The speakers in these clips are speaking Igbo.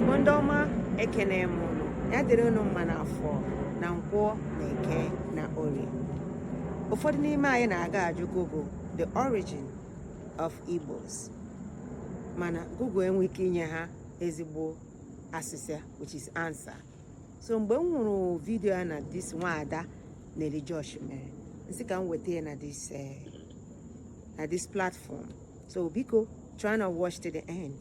Igbo ndị ọma ekene m unu ya dịrị unu mma n'afọ na nkwọ na eke na orie ụfọdụ n'ime anyị na-aga ajụ Google the origin of Igbos mana Google enwe ike inye ha ezigbo asịsa which is answer so mgbe m hụrụ vidio a na this nwaada Nelly Josh mere m sị ka m weta ya na this eh, na this platform so biko try and watch to the end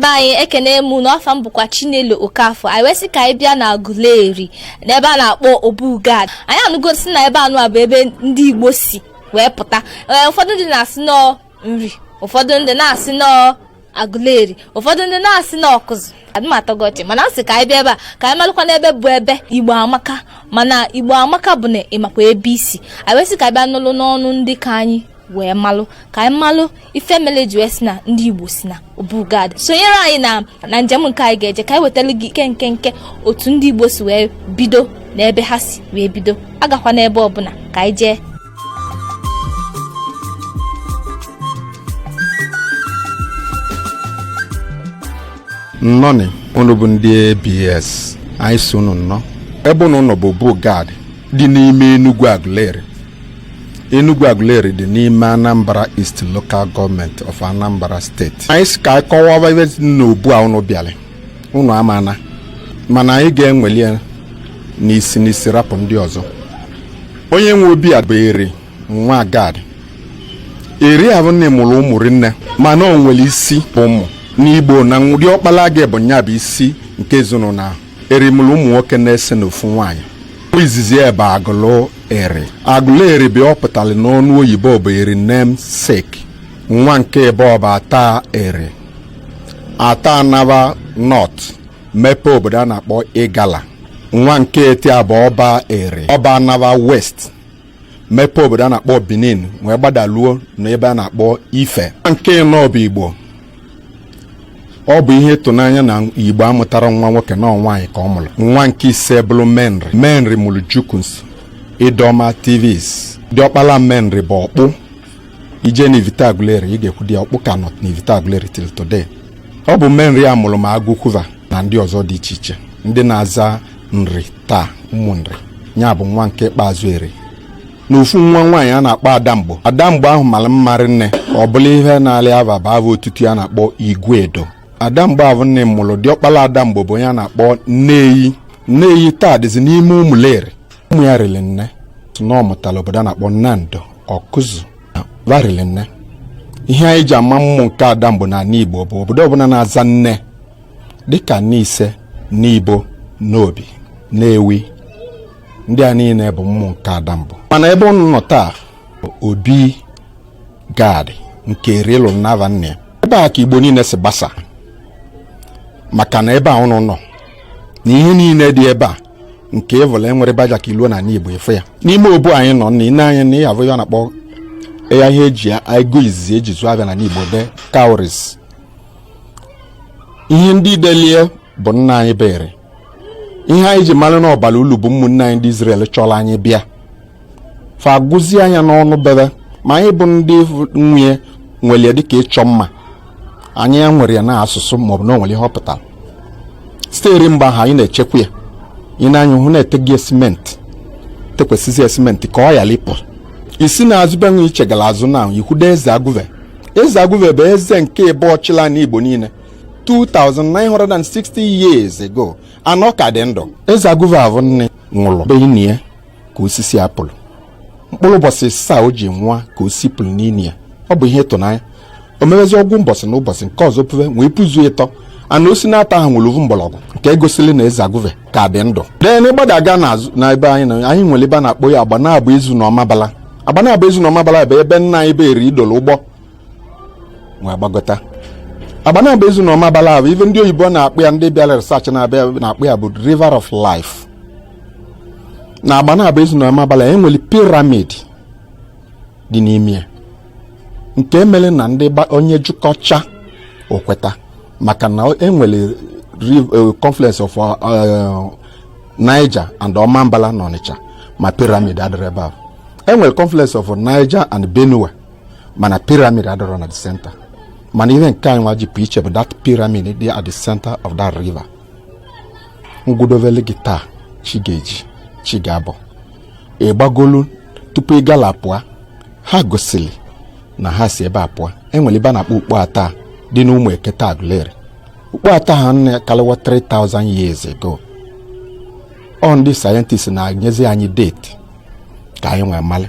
be anyị ekene m unu afa m bụkwa chinelo okafọ anyị wee sị ka anyị bịa n'aguleri n'ebe a na-akpọ obugad anyị anụgo si na ebe anụwa bụ ebe ndị igbo si wee pụta ee ụfọdụ ndị na-asị na ọ nri ụfọdụ ndị na-asị na ọ aguleri ụfọdụ ndị na-asị na ọkụzụ adịmatọgọchị mana m sị ka anyị bịa ebe a ka anyị malụkwa n'ebe bụ ebe igbo amaka mana igbo amaka bụ na ị makwa ebe i si anyị wee sị ka anyị bịa nụlụ n'ọnụ ndị ka anyị wee malụ ka anyị malụ ife mele e ji wee sị na ndị igbo si na obugad sonyere anyị na na njem nke anyị ga-eje ka anyị wetara gị nkenke otu ndị igbo si wee bido na ebe ha si wee bido agakwana ebe ọbụla ka anyị jee nnọọnụ unu bụ ndị abs anyị sị unu nnọọ ebe unu nọ bụ obugad dị n'ime enugwu aguleri Enugwu Aguleri dị n'ime Anambra East Local Government of Anambra State. Anyị sị ka anyị kọwaa ebe n'obu a unu bịara unu amana mana anyị ga-eweli ya n'isi n'isi rapụ ndị ọzọ onye nwe obi a bụ eri nwa gad eri ahụ nne mụrụ ụmụ rinne mana o nwere isi ụmụ n'igbo na diọkpala gị bụ nya bụ isi nke ezinụlọ ahụ eri mụlụ ụmụ nwoke n'ise na ofu nwaanyị nwa izizi ya bụ agụlụ eri agụlụ eri ive ọ pụtara n'ọnụ oyibo bụ eri namesake nwa nke ịbụọ bụ ata eri ata anaba north mepee obodo a na-akpọ igala nwa nke ịtọ bụ ọba eri ọba anaba west mepee obodo a na-akpọ Benin wee gbadaluo na ebe a na-akpọ Ife nwa nke ịnọ bụ Igbo ọ bụ ihe ịtụnanya na Igbo amụtarọ nwa nwoke na ọ nwaanyị ka ọ mụrụ nwa nke ise bụrụ Menri Menri mụrụ Jukuns Idoma Tivs diọkpala Menri bụ ọkpụ i je na Ivite Aguleri ị ga-ekwudo ya ọkpụ ka nọ na Ivite Aguleri till today ọ bụ menri a mụrụ ma agụkwu va na ndị ọzọ dị iche iche ndị na-aza nri taa ụmụ nri ya bụ nwa nke ikpeazụ eri na ofu nwa nwaanyị a na-akpọ adamgbo adamgbo ahụ mara mma rinne ọ bụla ihe na-alị ava bụ ava otutu ya a na-akpọ iguedo adamgbo ahụ nne mụrụ diọkpala adamgbo bụ onye a na-akpọ nneyi nneyi taa dịzi n'ime ụmụleri ụmụ ya riri nne si na ọ mụtara obodo a na-akpọ nando ọkụzụ va rili nne ihe anyị ji ama ụmụ nke Adamgbo n'anị igbo bụ obodo ọbụla na-aza nne dịka Nise Nibo Nnobi Nnewi ndị a niile bụ ụmụ nke Adamgbo mana ebe ụnụ nọ taa obi gad nke Eri lụlụ n'ava nne ebe a ka igbo niile si gbasa maka na ebe a ụnụ nọ na ihe niile dị ebe a nke ịvụla enwere baja ka iluo n'anị Igbo efe ya n'ime obu anyị nọ na ine anya na ị ya-avụ ya a na-akpọ ya ihe eji ego izizi eji zụọ avịa n'anị Igbo bụ cowries ihe ndị idelie bụ nna anyị bụ Eri ihe anyị ji mara na ọ bara ulu bụ ụmụnne anyị ndị Izrel chọrọ anyị bịa fa agụzie ya n'onu be ve ma anyị bụ ndị nwe e were ya dịka ịchọ mma anyị ewerọ ya na asụsụ maọbụ na o nwere ihe ọ pụtara site eri mgbe ahụ anyị na-echekwa ya ị nee anya hụ na e tezi simenti tekwasịzi simenti ka ọ ghara ịpụ ị si n'azụ ebe nwa iche gara azụ na ikwudo eze agụve eze agụve bụ eze nke ibụọ chịlị na igbo niile 2960 years ago anọ ka dị ndụ eze agụve avụ nke nwụrụ be ya ka osisi a pulu mkpụrụ ụbọsị ịsaa o ji nwụa ka osisi pulu n'ini ya ọ bụ ihe ịtụnanya o meezi ọgụ ụbọsị na ụbọsị nke ọzọ puve wee puzuo ịtọ mana osisi naatọ ahụ nwere ovu mgbọrọgwụ nke egosili na eze agụve ka dị ndụ then na ị gbadaga n'azụ na ebe anyị na anyị nwere ebe a na-akpọ ya agbanabọ ezu na ọmabala agbanabọ ezu na ọmabala bụ ebe nna anyị bụ eri dolo ụgbọ wee gbagota agbanabọ ezu na ọmabala bụ ife ndị oyibo na-akpọ ya ndị bịara research na-abịa na-akpọ ya bụ river of life na agbanabọ ezu na ọmabala e nwere piramid dị n'ime ya nke mere na ndị onye jikọcha okweta maka na e nwere eh, confluence of eh, Niger and Omambala na Onitsha ma piramid adịrọ ebe ahụ e nwere confluence of Niger and Benue mana piramid adịrọ na the center mana ihe nke anyị nwa ji pụ iche bụ that piramid dị at the center of that river ngwudovele gị taa chi ga-eji chi ga-abọ ị gbagolu tupu Igala apụọ ha gosiri na ha si ebe a pụọ enwere ebe a na-akpọ ukpo Atta dị n'Ụmụekete agụleri ukpo Atta a anọkarịwa 3000 years ago ọ ndị sayentist na-enyezi anyị deti ka anyị wee malị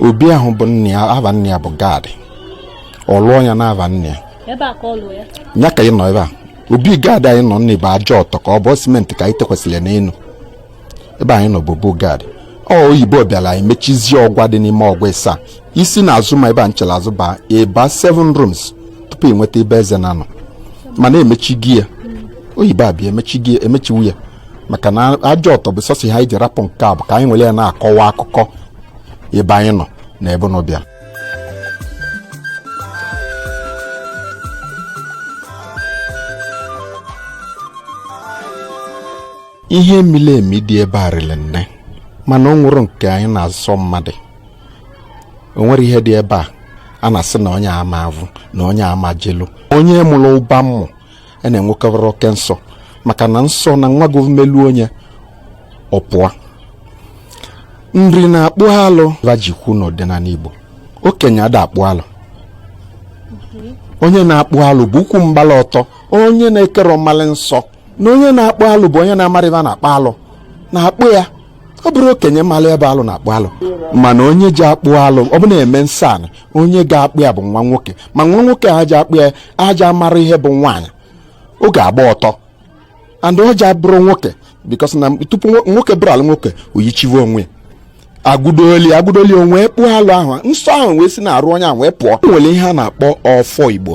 obi ahụ bụ nna ya ava nna ya bụ gad ọ lụọ ya na ava nna ya ebe a ka ọ lụọ ya ya ka ị nọ ebe a obi gad anyị nọ n'ime bụ aja ọtọ ka ọ bụ simenti ka anyị tekwasịrị ya n'elu ebe anyị nọ bụ obu gad oyibo bịara anyị mechizie ọgwa dị n'ime ọgwa ịsaa ị si na azụ ma ebe a nchere azụ baa ị baa 7 rooms tupu ị nweta ebe eze na-anọ mana emechigo ya oyibo abịa emechigo ya emechiwu ya maka na aja ọtọ bụ sọsọ ihe anyị ji rapụ nke a bụ ka anyị were ya na-akọwa akụkọ ebe anyị nọ na ebe unu bịara ihe mili emi dị ebe a rịrị nne mana o nwerọ nke anyị na-asọ mmadụ o nwere ihe dị ebe a a na-asị na onye ama avụ na onye ama jelu onye mụrụ ụba mmụọ a na-enwekarị oke nsọ maka na nsọ na nwa gị melu onye ọ pụọ Nri na-akpụ alụ va ji kwu n'ọdịnala Igbo okenye ada akpụ alụ onye na-akpụ alụ bụ ukwu mgbala ọtọ onye na-akarọ malị nsọ na onye na-akpụ alụ bụ onye na-amarọ va na-akpụ alụ na-akpụ ya ọ bụrọ okenye malị ihe bụ alụ na-akpụ alụ mana onye ji akpụ alụ ọ bụ na e mee nsọ anị onye ga-akpụ ya bụ nwa nwoke ma nwa nwoke a ji akpụ ya aja mara ihe bụ nwaanyị ọ ga-agba ọtọ and ọ ja-abụrụ nwoke because na tupu nwoke bụrụ alụ nwoke oyichiwe onwe ya agụdoli agụdoli onwe kpụọ alụ ahụ nsọ ahụ wee si n'arụ onye ahụ wee pụ o nwere ihe a na-akpọ ọfọ Igbo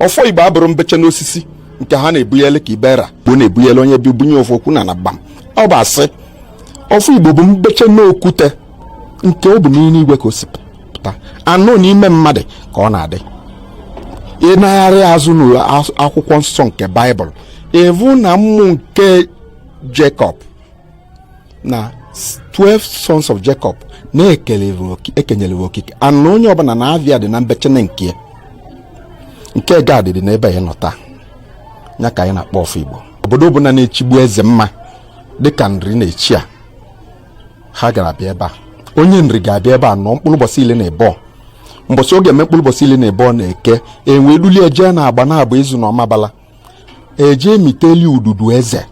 ọfọ Igbo abụrọ mbeche n'osisi nke ha na-ebunyele ka ibera bụ na-ebunyele onye bi bunye ofu okwu na na gbam ọ bụ asị ọfọ Igbo bụ mbeche n'okwute nke ọ bụ n'ime igwe ka o si pụta anụ n'ime mmadụ ka ọ na-adị ị nagharị azụ n'akwụkwọ nsọ nke Baịbụl ị vụ na ụmụ nke Jacob na 12 sons of Jacob na e kenyere okike anụ onye ọbụla na ava ya dị na mbechene nke nke Gad dị n'ebe anyị nọ taa ya ka anyị na-akpọ ọfọ Igbo obodo ọbụla na-echigbu eze mma dịka Nri na-echi a ha ga-abịa ebe a onye Nri ga-abịa ebe a nọ mkpụrụ ụbọchị ili na ebọ mbọsị ọ ga-eme mkpụrụ ụbọchị ili na ebọ na eke e wee dulie jee na Agbanabọ Ezu na Ọmabala e jee emiteli ududu eze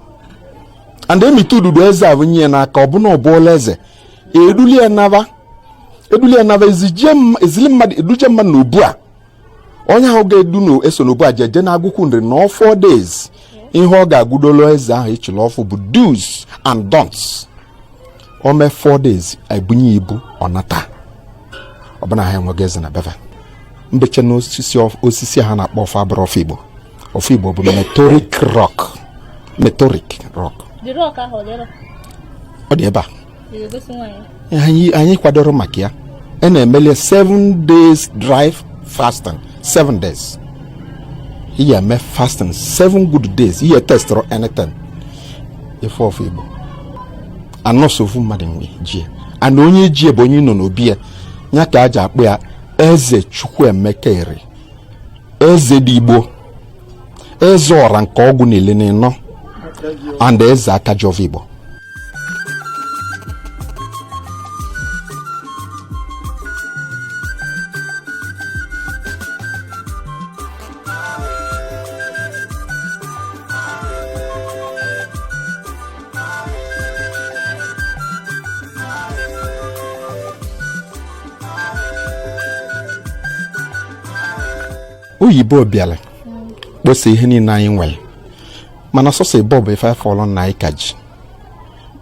and emite ududu eze ebunye ya n'aka ọ bụ na ọ bụọla eze eduli ya naba eduli ya naba ezije m- ezili mmadụ eduje mmadụ na obu a onye ahụ ga-edu na-eso na obu a jeje na Agụkwu Nri nọọ four days ihe ọ ga-agụdolo eze ahụ e chili ọfụụ bụ do's and don'ts o mee four days ebunye ibu ọ nata ọ bụ na ha enwego eze na be fa mbeche na osisi osisi ha na-akpọ ọfọ abụrọ ọfọ Igbo ọfọ Igbo bụ meteoric rock meteoric rock ọ dị ebe a anyị kwadoro maka ya a na-emeli 7 days dry fasting 7 days ị ya-eme fasting 7 good days ị ya testụrọ anything ife ọfọ igbo anọsọ ofu mmadụ nwe jie and onye jie bụ onye nọ n'obi ya ya ka a ji akpọ ya eze chukwuemeka eri eze dị igbo eze ọra nke ọgụ n'ili na ịnọ and eze aka ji ọvọ igbo oyibo bịara kposa ihe niile anyị nwere mana sọsọ ebe ọ bụ ife afọlọ na anyị ka ji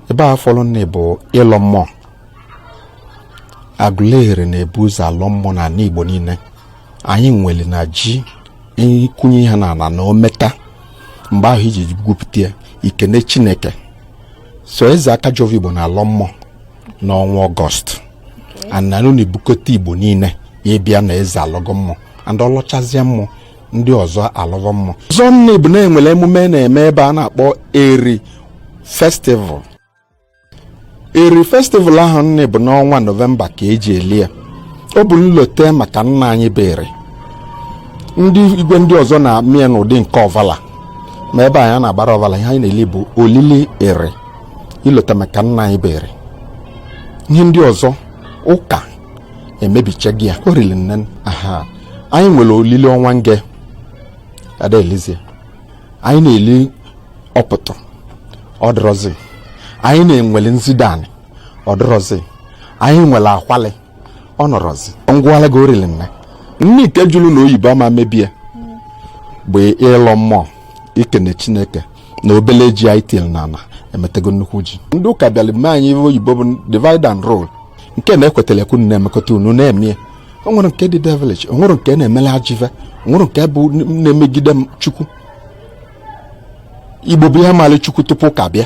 ebe a afọlọ na bụ ịlọ mmụọ aguleri na-ebu ụzọ alọ mmụọ na ala igbo niile anyị nwere na ji ị kụnyere na ala na o meta mgbe ahụ iji gwupụta ya i kene chineke so eze aka ji ọvọ igbo na-alọ mmụọ n'ọnwa ọgọst and a nụ na-ebukọta igbo niile ịbịa na eze alọgo mmụọ and ọ lọchazie mmụọ ndị ọzọ alọva mmụọ ọzọ nị bụ na e nwere emume na-eme ebe a na-akpọ eri festival eri festival ahụ nị bụ n'ọnwa nọvemba ka e ji eli ya ọ bụ nlote maka nna anyị bụ eri ndị igwe ndị ọzọ na-eme ya n'ụdị nke ọvala ma ebe anyị na-agbara ọvala ihe anyị na-eli bụ olili eri ilote maka nna anyị bụ eri ihe ndị ọzọ ụka emebichago ya olili nne aha anyị nwere olili ọnwa nge ada elizie anyị na-eli ọpụtụ ọ dịrọzi anyị na-enwele nzidanị ọ dịrọzi anyị nwere akwalị ọ nọrọzi m gwala gị orili nne nke jụrụ na oyibo ama emebi ya bụ ịlọ mmụọ i kene chineke na obele ji anyị tiri n'ala emetego nnukwu ji ndị ụka bịara mee anyị oyibo bụ divide and rule nke na-ekwetara ka unu na-emekọta unu na-emie o nwere nke dị devilish o nwere nke na-emele ajọ ive o nwere nke bụ na-emegide chukwu igbo bụ ihe maara chukwu tupu ụka bịa